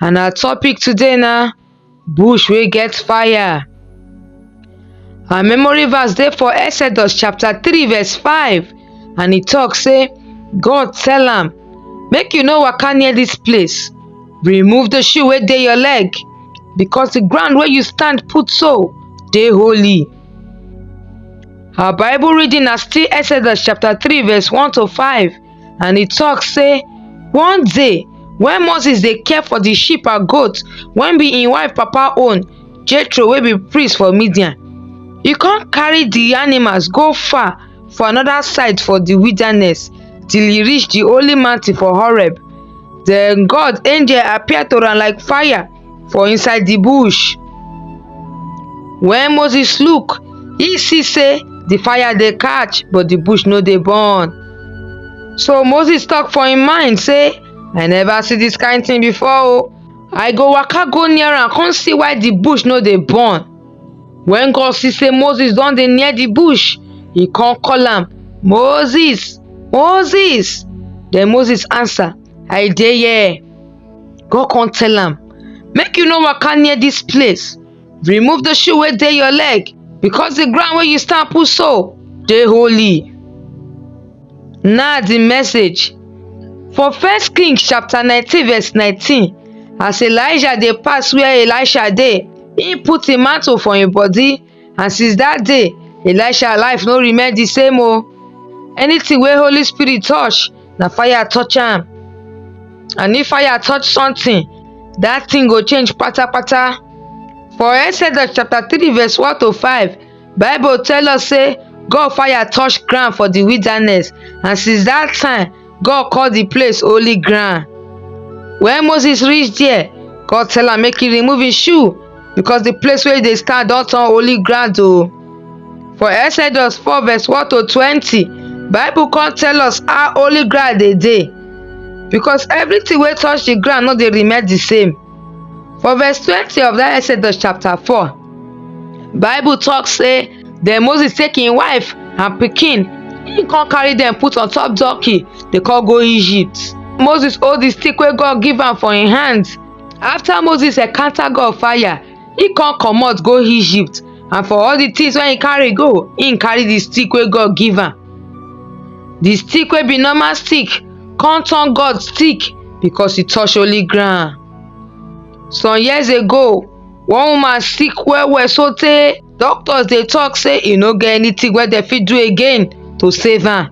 and our topic today na bush wey get fire. Our memory verse dey for Exodus chapter 3 verse 5 and e talk say God tell am make you no waka near this place remove the shoe wey dey your leg because the ground wey you stand put so dey holy. Our bible reading na still Exodus chapter 3 verse 1 to 5 and e tok sey, One day, wen Moses dey care for di sheep and goat wen be im wife papa own, Jethro wey be priest for Midian, e come carry di animals go far for anoda side for di wilderness till e reach di holy mountain for Horeb. Den God angel appear to am like fire. for inside di bush. Wen Moses look, e see sey di fire dey catch but di bush no dey burn. So Moses talk for im mind sey, I never see dis kind thing before o, I go waka go near am come see why di bush no dey burn. Wen God see sey Moses don dey near di bush, e come call am, Moses! Moses! Den Moses answer, I dey here. go come tell am make you no waka near dis place remove the shoe wey dey your leg because the ground wey you stand put so dey holy na the message for first king chapter 19 verse 19 as elijah dey pass where elisha dey he put him mantle for him body and since that day elisha life no remain the same o anything wey holy spirit touch na fire touch am and if fire touch something that thing go change patapata for exodus chapter three verse one to five bible tell us say god fire touch ground for the wilderness and since that time God call the place holy ground. When Moses reach there, God tell am make he remove his shoe because the place where he dey stand don turn holy ground o. For Exodus 4 verse 1 to 20, Bible come tell us how holy ground dey dey because everything wey touch the ground no dey remain the same. For verse 20 of that Exodus chapter 4, Bible talk say then Moses take him wife and pikin he come carry them put on top donkey dey come go Egypt. Moses hold the stick wey God give am for him hand. After Moses encounter God fire, he come comot go Egypt and for all the things wey he carry go, he carry the stick wey God give am. the stick wey be normal stick come turn God stick because e touch holy ground. Some years ago, one woman sick well well so tey doctors dey talk say e no get anything wey dem fit do again to save am.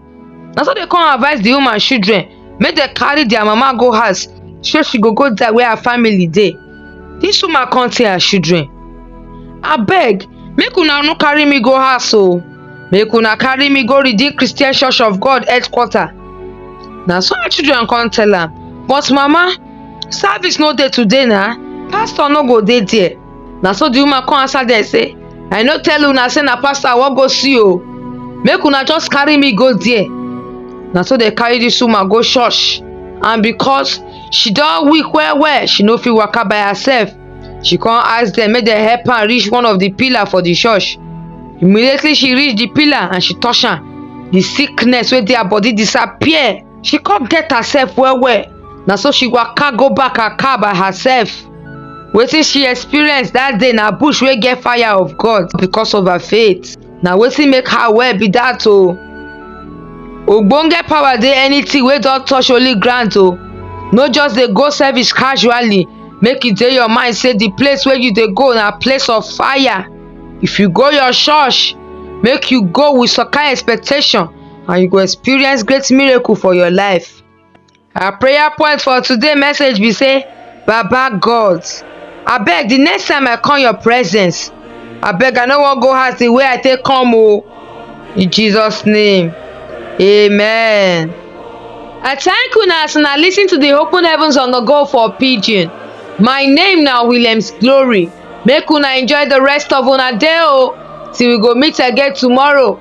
Na so dem come advice the woman children make dem carry their mama go house so she go go die where her family dey dis woman come tell her children abeg make una no carry me go house o make una carry me go redeem christian church of god headquarter na so her children come tell am but mama service no dey today na pastor no go dey there na so the woman come answer dem say i no tell una say na pastor i wan go see o make una just carry me go there na so dem carry this woman go church and because she don weak well well she no fit waka by herself she come ask dem make dem help am reach one of the pillar for the church immediately she reach the pillar and she touch am the sickness wey dey her body disappear she come get herself well well na so she waka go back her car by herself wetin she experience that day na bush wey get fire of god because of her faith na wetin make her well be that o ogbonge power dey anything wey don touch holy ground o no just dey go service casually make e dey your mind say the place wey you dey go na place of fire if you go your church make you go with some kind expectation and you go experience great miracle for your life. Our prayer point for today message be say, Baba God, I beg the next time I come your presence, I beg I no wan go house the way I take come o. Oh. In Jesus name, amen. I thank una as una lis ten to the open heavens on the go for pidgin. My name na Williams Glory. Make una enjoy the rest of una day o oh, till we go meet again tomorrow.